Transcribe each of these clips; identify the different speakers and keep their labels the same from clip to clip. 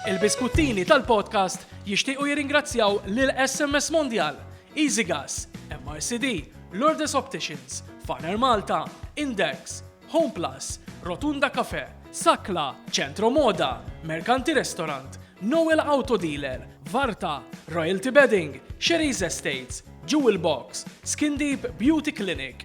Speaker 1: Il-biskuttini tal-podcast jixtiequ jirringrazzjaw lil SMS Mondial, EasyGas, MRCD, Lourdes Opticians, Faner Malta, Index, Home Plus, Rotunda Cafe, Sakla, Centro Moda, Mercanti Restaurant, Noel Auto Dealer, Varta, Royalty Bedding, Sherry's Estates, Jewel Box, Skin Deep Beauty Clinic,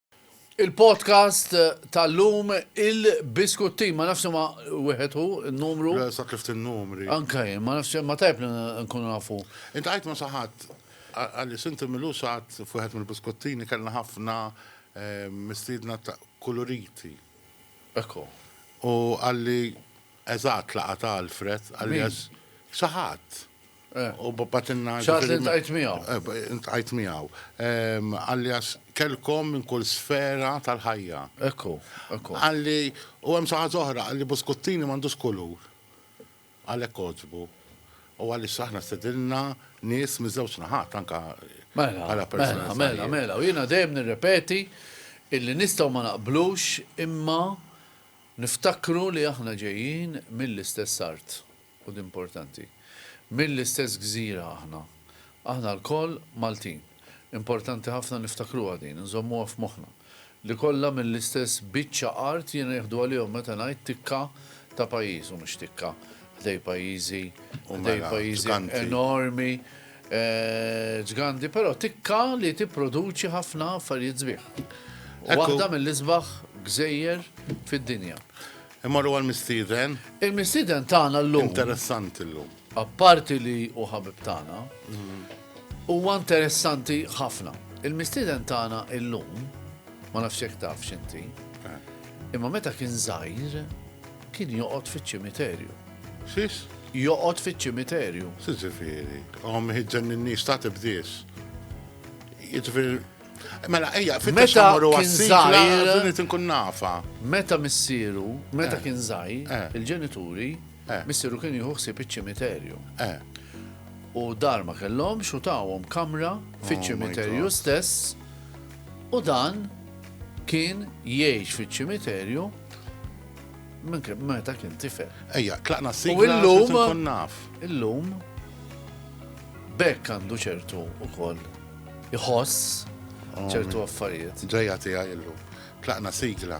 Speaker 1: Il-podcast tal-lum il-biskuttin, ma nafx ma wieħed hu n-numru. Le, sa tlift in-numri. Anka jien, ma nafx ma tajb li nkunu nafu. Int għajt ma saħat, għalli sinti milu saħat fuħet mill-biskottini kellna ħafna eh, mistiedna ta' kulurit. Ekku. U għalli Eżatt, laqgħa ta' Alfred, alias Xaħat. U batilna. Xaħat li ntqajt miegħu. Ntqajt miegħu. Alias kellkom minn kull sfera tal-ħajja. Ekku, ekku. Qalli, u hemm xi ħaġa oħra, qalli Buskuttini m'għandux kulur. Għalhekk għoġbu. U għaliex aħna stedinna nies miż-żewġ naħat anke bħala personalitajiet. Mela, mela, mela. U jiena dejjem nirrepeti illi nistgħu ma naqblux imma Niftakru li aħna ġejjin mill-istess art, u din importanti. Mill-istess gżira aħna. Aħna lkoll Maltin. Importanti ħafna niftakruha din, inżommuha f'moħħna. Li kollha mill-istess biċċa art jiena nieħdu għalihom meta ngħid tikka ta' pajjiż, u mhux tikka, ħdej pajjiżi, ħdej pajjiżi enormi. Ġgandi però tikka li tipproduċi ħafna affarijiet sbieħ. Waħda mill-isbaħ gżejjer fid-dinja. Immorru għall-mistieden. Il-mistieden tagħna llum. Interessanti llum. Apparti li hu ħabib tagħna, huwa interessanti ħafna. Il-mistieden tagħna llum, ma nafx jekk taf x'inti, imma meta kien żgħir kien joqgħod fiċ-ċimiterju. Xiex? Joqgħod fiċ-ċimiterju. Siġifieri, hom ħiġġen in-nies ta' tibdiex. Jiġifieri Mela, ejja, meta kien zaħir, inkun nafa. Meta missieru, meta eh. kien zaħir, eh. il-ġenituri, eh. missieru kien jieħu ħsieb iċ-ċimiterju. U dar ma kellhom xutawhom kamra oh fiċ-ċimiterju stess u dan kien jgħix fiċ-ċimiterju Minn kien meta kien tifel. Ejja, tlaqna s-sik. U illum. Illum. Bekk għandu ċertu u koll. Iħoss oh, ċertu affarijiet. Ġeja tija illum. Tlaqna sigla.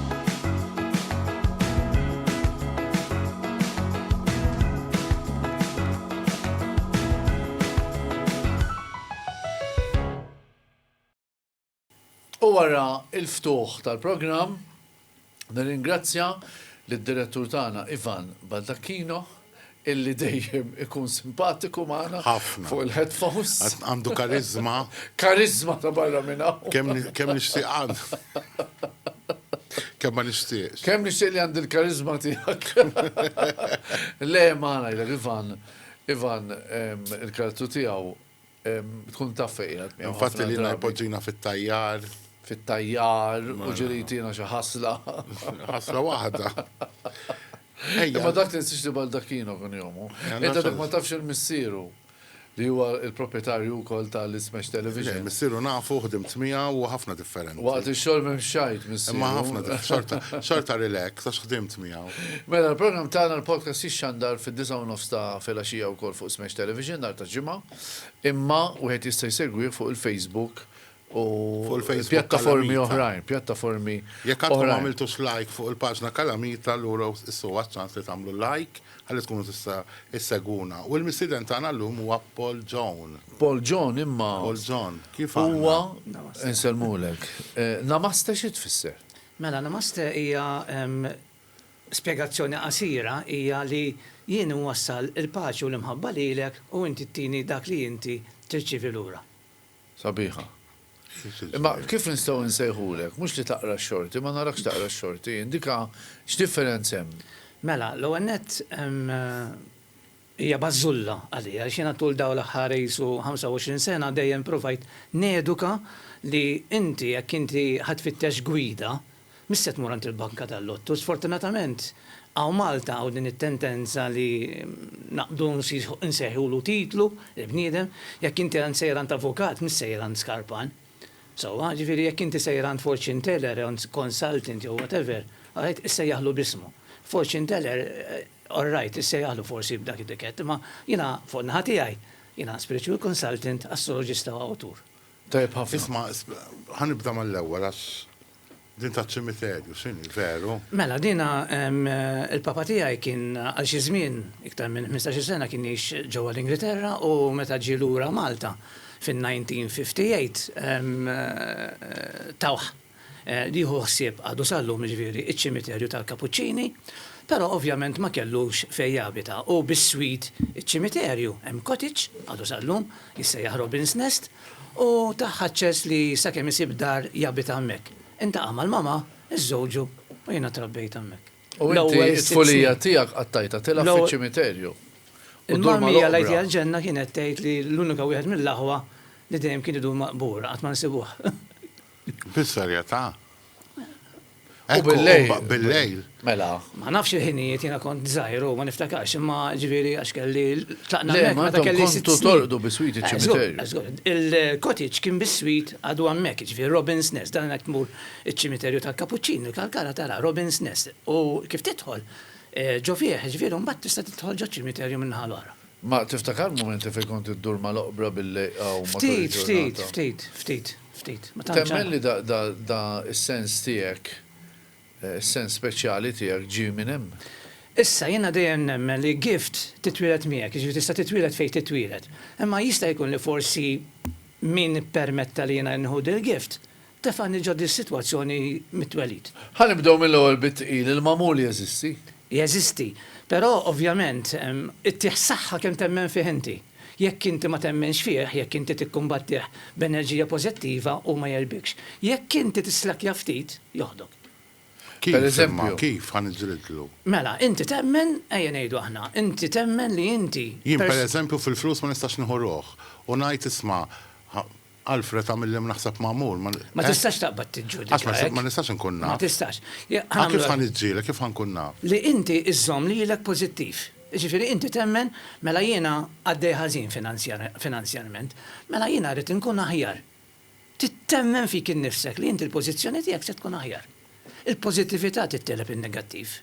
Speaker 1: U wara l-ftuħ tal-programm, nirringrazzja lid-Direttur tagħna Ivan Baldacchino, illi dejjem ikun simpatiku magħna fuq il-headphones. Għandu kariżma. Kariżma ta' barra minn hawn. Kemm nixtieq għand. Kemm ma nixtieqx. Kemm nixtieq li għandi l-kariżma tiegħek. Le ma ngħidlek Ivan, Ivan il-karattru tiegħu Tkun taf fejn qiegħed miegħu. Infatti li jpoġġina fit-tajjar. Fit-tajjar u mela. ġiritina xi ħasla. Ħasla waħda. Ma dak li nsiex li Baldacchino kun jomu. Ejda dak ma tafx il-missieru li huwa il-proprjetarju wkoll tal-Smash Television. Missieru nafu ħdimt miegħu u ħafna differenti. Waqt ix-xogħol m'hemmx xajt missieru. Imma ħafna xorta relax għax ħdimt miegħu. Mela l-programm tagħna l-podcast jixxandar fid-disgħa u nofs ta' filgħaxija wkoll fuq Smash Television nhar tal-Ġimgħa, imma wieħed jista' jsegwih fuq il-Facebook u Fuq il-Facebook pjattaformi Kalamita. oħrajn, pjattaformi Jekk għadkom ma oħrajn. għamiltux like fuq il-paġna Kalamita allura issu huwa ċ-ċans li tagħmlu like ħalli tkunu tista' issegwuna. U l-mistieden tagħna llum huwa Paul John. Paul John imma Paul John, kif huwa aħna? nsellmulek. Eh, Namaste xi tfisser? Mela, Namaste hija spjegazzjoni qasira hija li jien inwassal il-paċi u l-imħabba lilek u inti ttini dak li inti tirċievi lura. Sabiħa. Imma kif nistgħu nsejħulek, mhux li taqra x-xorti, ma narakx taqra x-xorti, indika x'differenz hemm? Mela, l-ewwel nett, Hija bażżulla għalija għax jiena tul dawn l-aħħar qisu 25 sena dejjem provajt neduka li inti jekk inti ħa tfittex gwida, mhix se tmur għand il-banka tal-lottu. Sfortunatament hawn Malta hawn din it-tendenza li naqbdu nsejħulu titlu lill-bniedem, jekk inti għand sejjer għand avukat mhux sejjer għand skarpan. Sewwa, ġifieri jekk inti sejjer għand fortune teller jew għand consultant jew whatever, all right, issejjaħlu b'ismu. Fortune teller, all right, issejjaħlu forsi b'dak it-tikett, imma jiena fuq in-naħa tiegħi, jiena spiritual consultant, astroloġista u awtur. Tajjeb ħafna. Isma', ħa nibda mal-ewwel għax Din ta' ċimiterju, x'inhi, veru? Mela, dina il-papa tiegħi kien għal xi żmien iktar minn 15-il sena kien jgħix ġewwa l-Ingilterra u meta ġie lura Malta fin-1958 tawh li jieħu ħsieb għadu sal-lum jiġifieri iċ-ċimiterju tal-Kapuċċini, però ovvjament ma kellux fejn jabita u bis-swit iċ-ċimiterju hemm cottage għadu sal-lum jissejjaħ Robin's Nest U tah aċċess li sakemm isib dar jabita hemmhekk. Intaqa' mal-mama, iżżewġu u jiena trabbejt hemmhekk. U inti t-tfulija tiegħek qattajtha tilgħab fiċ-ċimiterju u ddur mal-oqbra. L-ewwel Għid għall-Ġenna kienet tgħid li l-unika wieħed mill-aħwa li dejjem kien idur maqbur, qatt ma nsibuh. Fis-serjetà? U bil-lejl. Bil-lejl. Mela. Ma nafx il-ħinijiet, jiena kont żgħir u ma niftakarx, imma ġifieri għax kelli tlaqna hemmhekk meta kelli sitt snin. Kontu tolqtu biswit iċ-ċimiterju. Il-cottage kien biswit għadu hemmhekk, ġifieri Robin's Nest, dan jekk tmur iċ-ċimiterju tal-Kapuċċini, il-Kalkara tara Robin's Nest u kif tidħol ġo fih, ġifieri mbagħad tista' tidħol ġo ċimiterju min-naħa l-oħra. Ma tiftakar mumenti fejn kont iddur mal-oqbra bil-lejqa u matul il-ġurnata? Ftit, ftit, ftit, ftit. Temmen li da s-sens tiegħek, is-sens speċjali tiegħek ġie minn hemm? Issa, jiena dejjem nemmen li gift titwieled miegħek, jiġifieri tista' titwieled fejn titwieled. Imma jista' jkun li forsi min ippermetta li jiena nieħu dil-gift Tefgħani ġo dis-sitwazzjoni mit-twelid. Ħa nibdew mill-ewwel bit-tqil, il-magħmul jeżisti? Jeżisti. Però, ovvjament, ittih saħħa kemm temmen fih inti. Jekk inti ma temminx fih, jekk inti tikkumbattih b'enerġija pożittiva, hu ma jegħlbikx. Jekk inti tislakkja ftit, joħdok. Kif, imma kif ħa niġġlidlu? Mela, inti temmen, ejja ngħidu aħna, inti temmen li inti. Jien, pereżempju, fil-flus ma nistax nieħu ruħ u ngħid, isma', Alfred għamilli ma naħseb magħmul. Ma eh? tistax taqbad tiġġudika. Asma, eh? ma nistax inkun naf. Ma tistax. Ah, kif ħan iġġielek, kif ħankun naf? Li inti iżżomm lilek pożittiv. Ġifieri inti temmen mela jiena għaddej ħażin finanzjarment, mela jiena rrid inkun aħjar. Tittemmen fik innifsek li inti l-pożizzjoni tiegħek se tkun aħjar. Il-pożittività titteleb in-negattiv.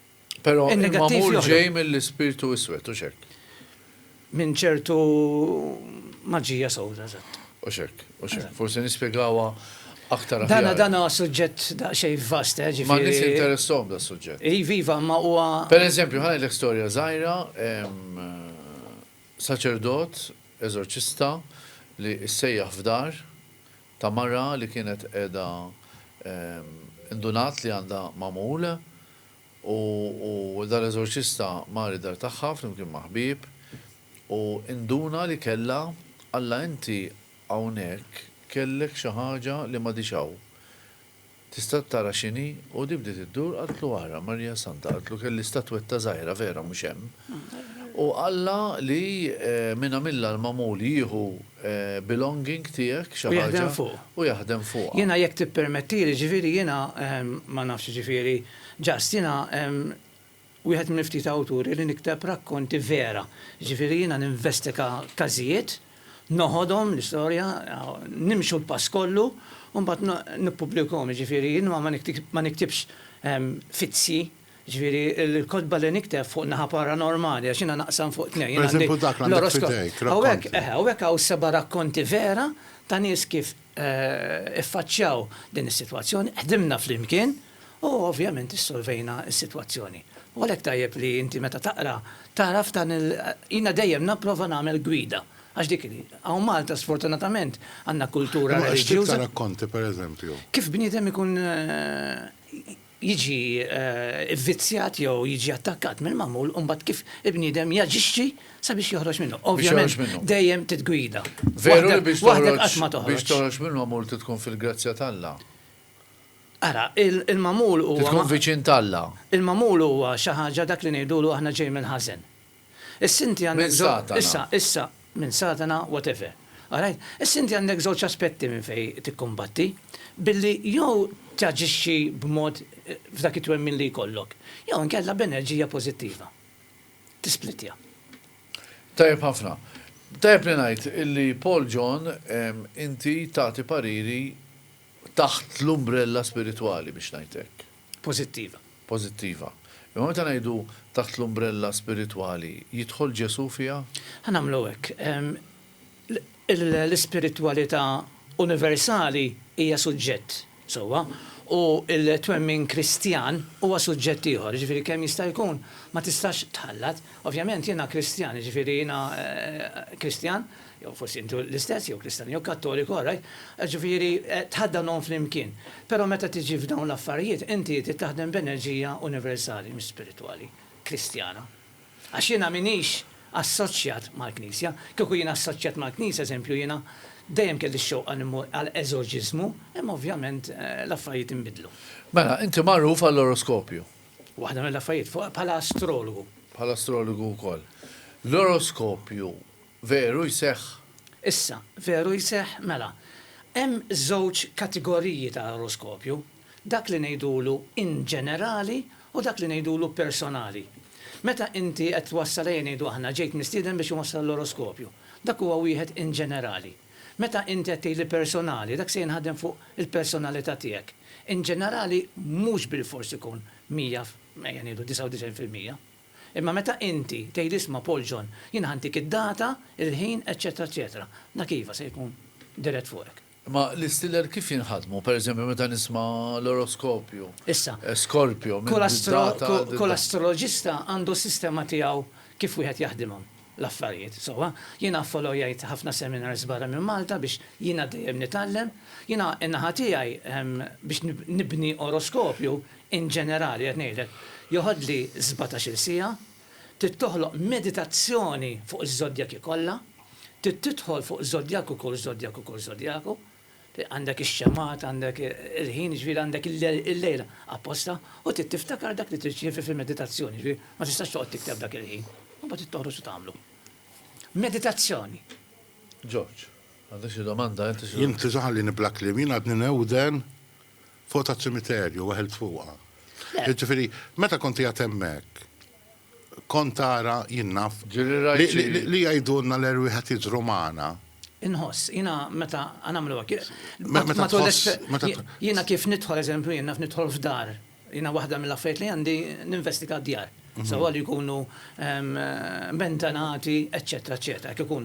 Speaker 1: Però il-magħmul ġej mill-ispirtu iswed, hux hekk? Minn ċertu maġija sewda, eżatt. Hux hekk, hux hekk. Forsi nispjegawha aktar aħjar. Dana dana suġġett daqsxejn vast, eh, ġifieri. Ma nies interessom da suġġett. Iva, iva, ma huwa. Per eżempju, ħa ngħidlek storja żgħira, saċerdot, eżorċista li ssejjaħ f'dar ta' mara li kienet qiegħda indunat li għandha magħmul U dan l-eżorċista mar id-dar tagħha flimkien ma' ħbieb, u induna li kellha, Alla inti hawnhekk kellek xi ħaġa li m'għadhiex hawn. Tista' tara x'inhi? U di bdiet iddur qaltlu ara, Marija Santa, qaltlu kelli statwetta żgħira vera mhux hemm, u Alla li min għamilha l-magħmul jieħu belonging tiegħek, xi ħaġa, u jaħdem fuqha. Jiena jekk tippermettili, ġifieri jiena ma nafx jiġifieri just jiena wieħed mill-ftit awturi li nikteb rakkonti vera. Jiġifieri jiena ninvestiga każijiet, noħodhom l-istorja, nimxu l-pass kollu u mbagħad nippubblikahom. Jiġifieri jien ma niktibx fizzji. Jiġifieri l-kotba li nikteb fuq naħa paranormali għax jiena naqsam fuq tnejn. Jien għandi l-oroskop. Hawnhekk, eħe, hawnhekk hawn seba' rakkonti vera ta' nies kif iffaċċjaw din is-sitwazzjoni, ħdimna flimkien u ovvjament issolvejna s-sitwazzjoni. U għalhekk tajjeb li inti meta taqra tagħraf dan il, jiena dejjem napprova nagħmel gwida għax dik hi. Hawn Malta sfortunatament għandna kultura reliġjuża. Imma x'tip ta' rakkonti pereżempju? Kif bniedem ikun jiġi vvizzjat jew jiġi attakkat mill-magħmul u mbagħad kif il-bniedem jaġixxi sabiex joħroġ minnu. Ovvjament dejjem titgwida. Veru li biex toħroġ mill-magħmul trid tkun fil-grazzja t'Alla. Ara, il-magħmul huwa. Trid tkun viċin t'Alla. Il-magħmul huwa xi ħaġa dak li ngħidulu aħna ġej mill-ħażen. Issa inti għandek żewġ. Minn Satana. Issa, issa, minn Satana, whatever. All right? Issa inti għandek żewġ aspetti minn fejn tikkumbatti, billi jew taġixxi b'mod f'dak it-twemmin li jkollok, jew inkella b'enerġija pożittiva. Tisplittja. Tajjeb ħafna. Tajjeb li ngħid illi Paul John inti tagħti pariri taħt l-umbrella spiritwali biex ngħid hekk. pożittiva. Pożittiva. Imma meta ngħidu taħt l-umbrella spiritwali, jidħol Ġesù fiha? Ħa nagħmlu hekk. L-ispiritwalità universali hija suġġett, sewwa, u l-twemmin Kristjan huwa suġġett ieħor, jiġifieri kemm jista' jkun ma tistax tħallat. Ovvjament jiena Kristjan, jiġifieri jiena Kristjan, Jew forsi intu l-istess, jew Kristan jew Kattoliku, all right. Ġifieri, tħaddanhom flimkien. Però meta tiġi f'dawn l-affarijiet, inti trid taħdem b'enerġija universali, mhux spiritwali, Kristjana. Għax jiena m'iniex assoċjat mal-Knisja. Kieku jiena assoċjat mal-Knisja, eżempju, jiena dejjem kelli x-xewqa li mmur għal eżorġiżmu, imma ovvjament l-affarijiet inbidlu. Mela, inti magħruf għall-oroskopju. Waħda mill-affarijiet, bħala astrologu. Bħala astrologu wkoll. L-oroskopju. Veru jseħħ? Issa, veru jseħħ? Mela, hemm żewġ kategoriji ta' oroskopju, dak li ngħidulu inġenerali u dak li ngħidulu personali. Meta inti qed twassal ejja ngħidu aħna ġejt mistieden biex inwassal l-oroskopju, dak huwa wieħed inġenerali. Meta inti qed tgħidli personali, dak se jinħadem fuq il-personalità tiegħek. Inġenerali mhux bilfors ikun mija, ejja ngħidu 99 fil-mija. Imma meta inti tgħid isma' Paul John, jiena ħa ntik id-data, il-ħin, eċċetera eċċetera. Dak iva se jkun dirett fuqek. Imma l-istiler kif jinħadmu? Per eżempju meta nisma' l-oroskopju, Issa, Skorpju, minn kull astro, data għal kull data. astroloġista għandu s-sistema tiegħu kif wieħed jaħdimhom l-affarijiet, sewwa. Jiena affolojajt ħafna seminars barra minn Malta biex jiena dejjem nitgħallem. Jiena n-naħa tiegħi biex nibni oroskopju In ġenerali qed ngħidlek, joħodli sbatax-il siegħa, trid toħloq meditazzjoni fuq iż-żodjaki kollha, trid tidħol fuq żodjaku kull żodjaku kull żodjaku, għandek ix-xemgħat, għandek il-ħin, jiġifieri għandek il-lejl apposta, u trid tiftakar dak li trid ċievi fil-meditazzjoni, jiġifieri ma tistax toqgħod tikteb dak il-ħin, u mbagħad trid toħroġ u tagħmlu. Meditazzjoni. George, għandek xi domanda int? Jien tiżgħalli nibla kliem, jien għadni newden. Fuq taċ-ċimiterju, weħilt fuqha. Jiġifieri, meta kont qiegħed hemmhekk, kont tara, jien naf, li jgħidulna l-erwieħ qed jiġru magħna. Inħoss, jiena meta nagħmlu hekk, jiena kif nidħol, eżempju, jien naf nidħol f'dar, jiena waħda mill-affarijiet li għandi ninvestiga d-djar, sewwa li jkunu bentanati, eċċetera, eċċetera, jekk ikun.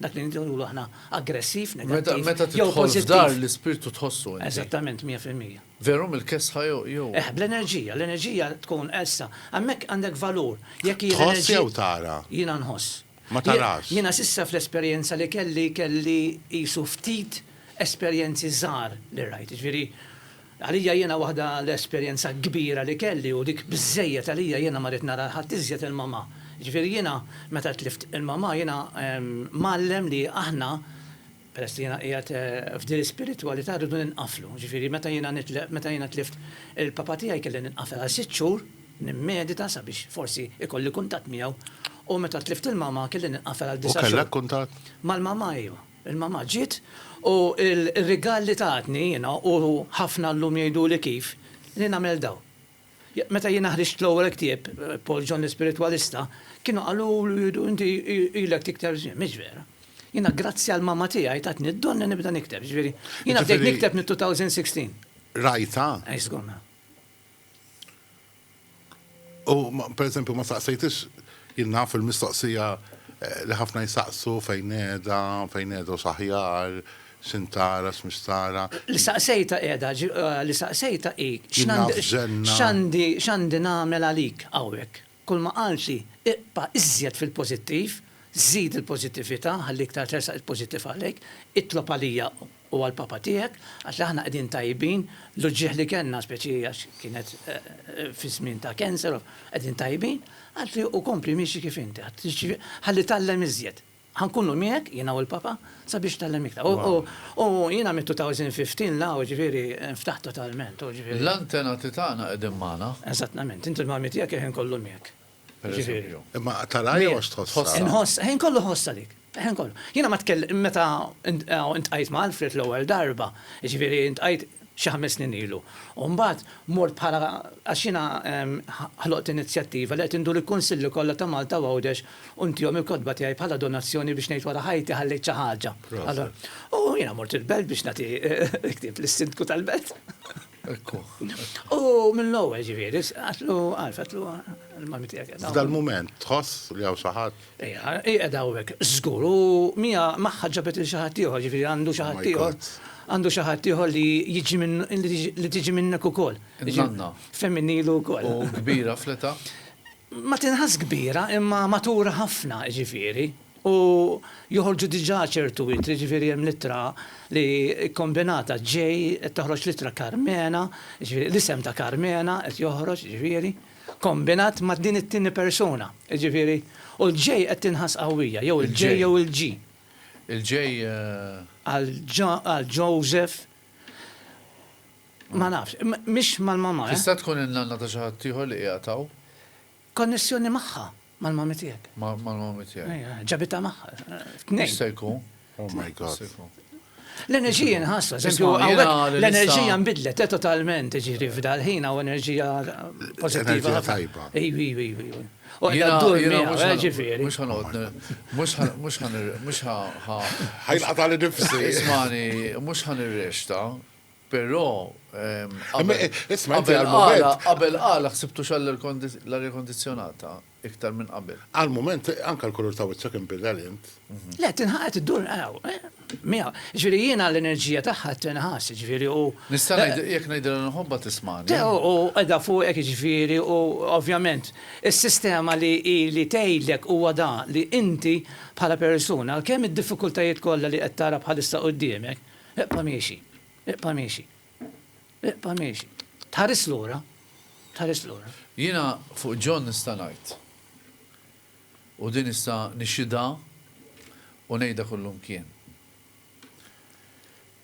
Speaker 1: Dak li nridu nqulu aħna aggressiv, negattiv. Meta tidħol f'dar l-ispirtu tħossu inti. Eżattament, mija fil-mija. Veru mill-kesħa jew. Eh, bl-enerġija, l-enerġija tkun issa. Hemmhekk għandek valur. Jekk hi l-enerġija. Tħoss jew tara? Jiena nħoss. Ma tarax. Jiena s'issa fl-esperjenza li kelli kelli qisu ftit esperjenzi żgħar li rajt. Jiġifieri Għalija jiena waħda l-esperjenza kbira li kelli u dik biżżejjed għalija jiena ma ridt nara l ħadd iżjed il mamà. Jiġifieri jiena meta tlift il mamà jiena mgħallem li aħna peress li jiena qiegħed f'din l-ispiritwalità rridu ninqaflu. Jiġifieri meta jiena nitl meta jiena tlift il papà tiegħi kelli ninqafel għal sitt xhur nimmedita sabiex forsi ikolli kuntatt miegħu u meta tlift il mamà kelli ninqafel għal disa' xhur. U kellek kuntatt? Mal mamà iva. Il-mamà ġiet u r-rigal li tatni jiena u ħafna llum jgħiduli kif li nagħmel daw. Meta jiena ħriġt l-ewwel ktieb, Paul John l-Ispiritwalista, kienu qaluli inti ilek tikteb żmien. Mhix vera. Jiena grazzi għal mamà tiegħi tatni d-don li nibda nikteb. Jiġifieri, jiena bdejt nikteb mit-2016. Rajtha? Eż, żgur, mela. U pereżempju ma saqsejtix, jien naf il-mistoqsija li ħafna jsaqsu fejn qiegħda, fejn qiegħda u x'aħjar, x'int tara, x'mhux tara. Li saqsejtha qiegħda, li saqsejtha hi x'għandi nagħmel għalik hawnhekk. Kulma qalt hi, iqpa' iżjed fil-pożittiv, żid il-pożittività, ħalli iktar tersaq il-pożittiv għalejk, itlob għalija u. u għall-Papa tiegħek, għax aħna qegħdin tajbin, l-uġigħ li kellna, speċi għax kienet fi żmien ta' cancer, qegħdin tajbin, qalt li u kompli miexi kif inti, ħalli tgħallem iżjed. Ħa nkunu miegħek, jiena u l-Papa, sabiex tgħallem iktar. U jiena mit-2015 'l hawn, ġifieri, nftaħt totalment. L-antenati tagħna qegħdin magħna. Eżattament, int u l-Mami tiegħek il-ħin kollu miegħek. Imma tara jew għax tħoss. Inħoss, ħin kollu ħoss għalik. Ħin kollu. Jiena ma tkellem meta intqajt ma' Alfred l-ewwel darba, jiġifieri intqajt xi ħames snin ilu. U mbagħad mort bħala għax jiena ħloqt inizjattiva li qed indur il-kunsilli kollha ta' Malta u Għawdex u ntihom il-kotba tiegħi bħala donazzjoni biex ngħid wara ħajti ħallejt xi ħaġa. U jiena mort il-belt biex nagħti ktieb lis-sindku tal-belt. Ekku. U mill-ewwel ġifieri, għatlu għalf, għatlu l-mami tiegħek. F'dal-mument tħoss li hawn xi ħadd. Ejja, qiegħed hawnhekk żgur u mija magħha ġabet il xi ħadd ieħor, ġifieri għandu xi ħadd ieħor. Għandu xi ħadd ieħor li jiġi minn li tiġi minnek ukoll. Nanna. Femminilu wkoll. U kbira fleta? Ma tinħass kbira imma matura ħafna ġifieri. U joħorġu diġà ċertu ittri, jiġifieri hemm l-ittra li kkombinata J, qed toħroġ l-ittra Karmena, jiġifieri l-isem ta' Karmena qed joħroġ, jiġifieri, kkombinat ma' din it-tieni persuna, jiġifieri, u l-J qed tinħass qawwija, jew il-J jew il-G. Il-J. Għal għal Joseph. Ma nafx, mhix mal-mamma, eh? Tista' tkun in-nanna ta' xi ħaddieħor li qiegħed hawn? Konnessjoni magħha, mal-mommy tiegħek. Ma' mal-mommy tiegħi. Ejja, ġabitha magħha. Tnejn. Jista' jkun. Oh my God. L-enerġija nħassa, l-enerġija nbidlet eh, totalment, ġiri f'dal ħin u enerġija pozittiva. tajba. Iwi, iwi, iwi. U jena d-dur eh, ġifiri. Mux ħanqot, mux ħan, mux ħan, mux ħan. Ħajlqa tal-nifsi. Ismani, mux ħan ir-rexta, Però, qabel qala, qabel qala ħsibtux għall-arja kondizzjonata iktar minn qabel. Għall-mument, anke l-kulur ta' wiċċek inbidel int. Le, tinħass, iddur miegħu. Jiġifieri jiena l-enerġija tagħha tinħass, jiġifieri u. Nista' ngħid, jekk ngħidilha nħobbha tismagħni. Le, u qiegħda fuqek jiġifieri u ovvjament is-sistema li hi li tgħidlek huwa dan li inti bħala persuna, kemm id-diffikultajiet kollha li qed tara bħalissa quddiemek, Ibqa' miexi. Ibqa' miexi. Ibqa' miexi. Tħaris lura. Tħaris lura. Jiena fuq John nista' ngħid, u din nista' nixhidha u ngħidha kullimkien,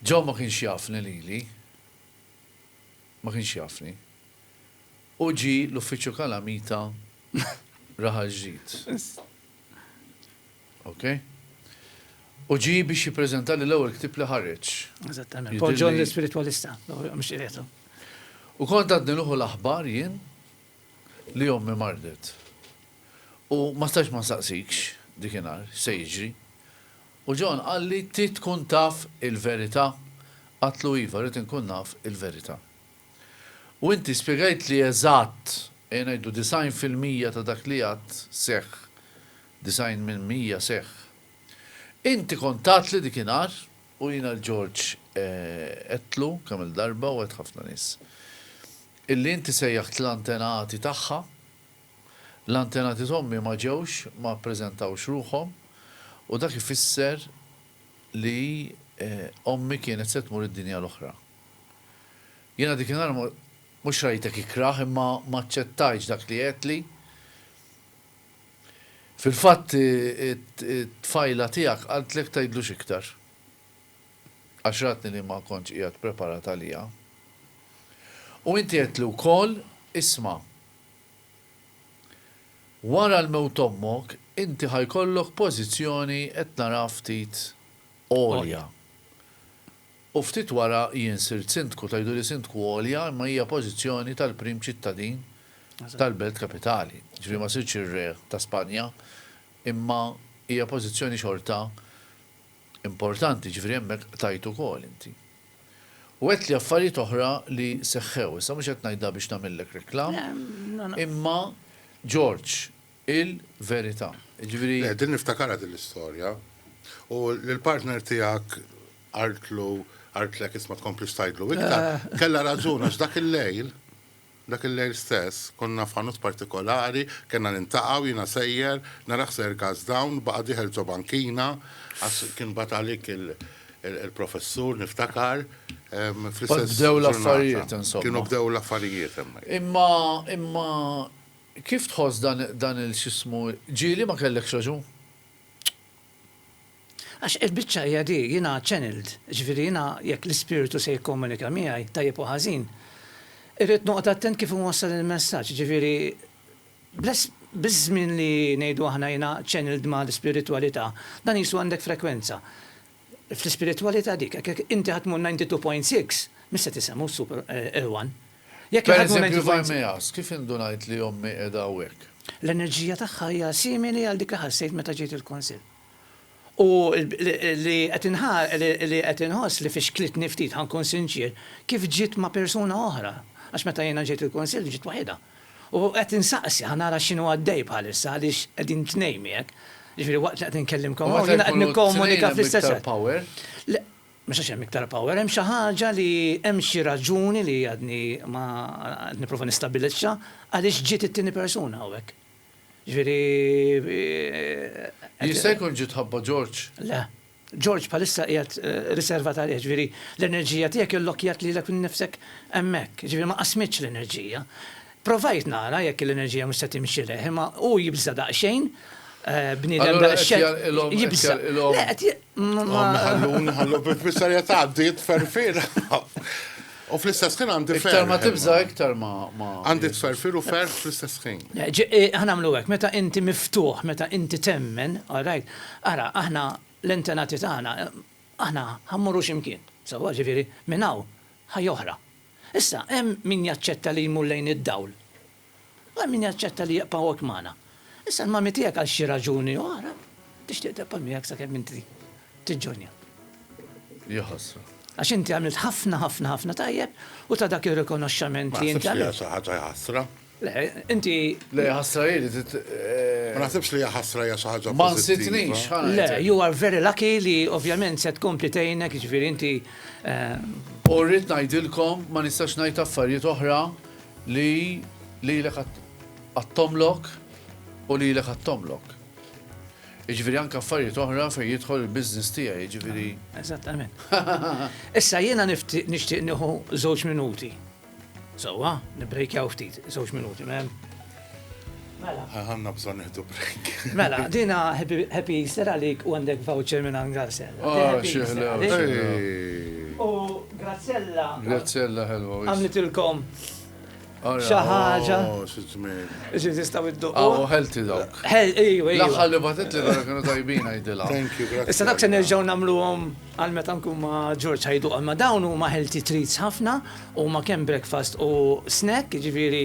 Speaker 1: John ma kienx jafni lili, ma kienx jafni. Hu ġie l-Uffiċċju Kalamita Raħal Ġdid. Ok? U ġie biex jippreżentali l-ewwel ktieb li ħareġ. Eżattament. Paul John l-Ispiritwalista, mhux qiegħed. U kont għadni nuħu l-aħbar jien li ommi mardet. U ma stax ma nsaqsikx dik inhar x'se jiġri. U John qalli trid tkun taf il-verità? Għadtlu iva, rrid inkun naf il-verità. U inti spjegajtli eżatt, ejja ngħidu disgħin fil-mija ta' dak li għadt seħħ 90 minn mija seħħ. Inti kont tatli dikinhar u jiena l-Ġorġ għedtlu kemm-il darba u għedt ħafna nies. Illi inti sejjaħt l-antenati tagħha. L-antenati t'ommi ma ġewx, ma ppreżentawx ruħhom u dak ifisser li ommi kienet se tmur id-dinja l-oħra. Jiena dikinhar mhux rajtek ikrah imma m'aċċettajtx dak li għedtli. Fil-fatt it-tfajla tiegħek qaltlek tgħidlux iktar. Għax ratni li ma kontx qiegħed preparat għaliha. U inti għedtli wkoll, Isma', wara l-mewt ommok inti ħa jkollok pożizzjoni qed naraha ftit għolja. U ftit wara jien sirt Sindku, tgħiduli Sindku għolja imma hija pożizzjoni tal-prim ċittadin tal-belt kapitali. Ġifieri ma sirtx ir-Re ta' Spanja imma hija pożizzjoni xorta importanti, ġifieri hemmhekk qtajt ukoll inti. U għedtli affarijiet oħra li seħħew, issa mhux qed ngħidha biex nagħmillek reklam imma George il-verità. Jiġifieri. Le, din niftakarha din l-istorja. U l-partner tiegħek qaltlu, qaltlek isma' tkomplix tgħidlu iktar. Kellha raġun għax dak il-lejl, dak il-lejl stess, konna f'ħanut partikolari, kellna niltaqgħu, jiena sejjer, nara ħsejjer gas down, baqa' dieħel ġo bankina, għax kien bagħat għalik il-professur, niftakar, fl-istess. Bdew l-affarijiet, insomma. Kienu bdew l-affarijiet hemmhekk. Imma, imma, Kif tħoss dan il x'ismu ġieli ma kellekx raġun. Għax il-biċċa hija di, jiena channeled, jiġifieri jiena jekk l-Ispirtu se jikkomunika miegħi, tajjeb u ħażin, irrid noqgħod attent kif inwassal il-messaġġ, jiġifieri biż-żmien li ngħidu aħna jiena channeled ma' l-ispiritwalità, dan qisu għandek frekwenza. Fl-ispiritwalità dik, jekk inti ħadd mhu 92.6, mhux se tisema' u ssub irwan. Jekk iħaddmu 92.6. Pereżempju Varmeas, kif indunajt li ommi qiegħda hawnhekk? L-enerġija tagħha hija simili għal dik li ħassejt meta ġejt il-Kunsill. U li qed inħoss li fixklitni ftit, ħa nkun sinċier, kif ġiet ma' persuna oħra, għax meta jiena ġejt il-Kunsill ġiet waħidha. U qed insaqsi ħa nara x'inhu għaddej bħalissa għaliex qegħdin tnejn miegħek, jiġifieri waqt li qed inkellimkom hawn jiena qed nikkomunika fl-istess Le, mhux għax hemm iktar power, hemm xi ħaġa li hemm xi raġuni li għadni ma qed nipprova nistabilixxa għaliex ġiet it-tieni persuna hawnhekk. Jiġifieri Jista' jkun ġiet ħabba Ġorġ? Le. George bħalissa qiegħed riservat għalih, jiġifieri l-enerġija tiegħek illokkjat lilek innifsek hemmhekk, jiġifieri ma qasmittx l-enerġija. Provajt nara jekk l-enerġija mhux se timxileh, imma hu jibża' daqsxejn, bniedem daqsxejn jibża'. Allura qed jgħidilhom, qed jgħidilhom, le qed jgħidilhom, hom iħalluni, iħallhom, ifisser qed tgħaddi, tferrfir. U fl-istess ħin għandi ferħ. Iktar ma tibża' iktar ma. Għandi tferfir u ferħ fl-istess ħin. Ħa nagħmlu hekk, meta inti miftuħ, meta inti temmen, all right, ara, aħna l-antenati tagħna, aħna ħa mmorru xi mkien. Sewwa, ġifieri, minn hawn, ħajja oħra. Issa, hemm min jaċċetta li jmur lejn id-dawl. Għal min jaċċetta li jibqa' hawnhekk magħna. Issa l-mami tiegħek għal xi raġuni oħra tixtieq tibqa' miegħek sakemm inti tiġġoinja. Ja ħasra. Għax inti għamilt ħafna ħafna ħafna tajjeb u ta' dak ir-rikonoxxament li inti għamilt. Ma naħsibx li hija xi ħaġa ħasra. Le, inti. Le, ħasra hi li tit. Ma naħsibx li hija ħasra hija xi ħaġa. Ma nsitnix. Le, you are very lucky li ovvjament se tkompli tgħinek, jiġifieri inti. U rrid ngħidilkom ma nistax ngħid affarijiet oħra. Li lilek għad tomlok u lilek għad tomlok. Iġviri anka affarijiet oħra fej jidħol il-biznis tiegħi, iġviri. Eżattament. Issa jiena nixtieq nieħu żewġ minuti. Sewwa, nibbrejkjaw ftit, żewġ minuti, mem. Mela. Għanna bżon nieħdu break. Mela, dina happy Easter għalik u għandek voucher minn għan Grazzella. Oh, xieħla. U Grazzella. Grazzella, hello. Għamlitilkom. Xaħġa. Ġi tistaw id-duq. Għaw, ħelti dawk. Laħħal li batet li dawk kienu tajbin għajdila. Thank you, grazie. Issa dak se nerġaw namlu għom għal-meta nkun ma George ħajdu għal ma dawn u ma ħelti treats ħafna u ma kem breakfast u snack, ġifiri.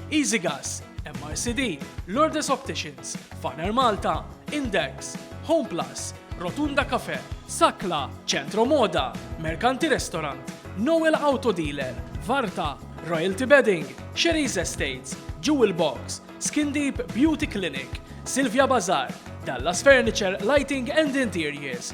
Speaker 1: Easygas, MRCD, Lourdes Opticians, Faner Malta, Index, Homeplus, Rotunda Cafe, Sakla, Centro Moda, Mercanti Restaurant, Noel Auto Dealer, Varta, Royalty Bedding, Sherry's Estates, Jewel Box, Skin Deep Beauty Clinic, Silvia Bazaar, Dallas Furniture Lighting and Interiors,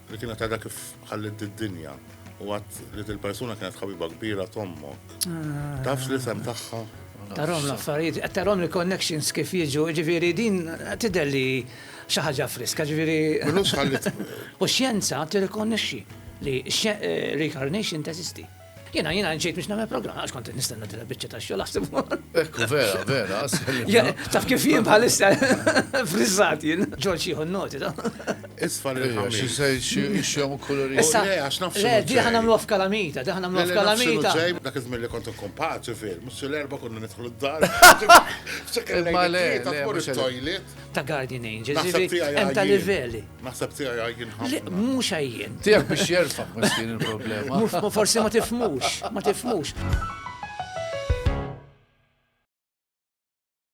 Speaker 1: Li kienet għadha kif ħallit d-dinja u għat li dil-persuna kienet ħabiba kbira tommok. Ah. Tafx li sem tagħha? Tarom l-affarijiet, tarom l-connections kif jiġu, ġifiri din tidher li xi ħaġa friska, ġifiri. U xjenza tirrikonnexxi li eh, reincarnation teżisti. Jiena jiena ġejt biex nagħmel programm għax kont nistenna din il-biċċa ta' xogħol aħseb. Ekku vera, vera, Taf kif jien bħalissa frizzat jien. Ġorġ jieħu noti da. Isfa li xi se xjom kuluri. Issa oh, għax nafx. Le, di ħana nagħmlu f'kalamita, di ħana nagħmlu f'kalamita. Dak iż-żmien li kont nkun paċi fil, mhux l-erba' konna nidħlu d-dar. Ma le, le, mhux toilet. Ta' Guardian Angels, hemm ta' livelli. Naħseb tiegħi għajjien ħafna. Le, mhux għajjien. Tiegħek biex jerfa' miskin il-problema. Forsi ma tifmux, ma tifmux.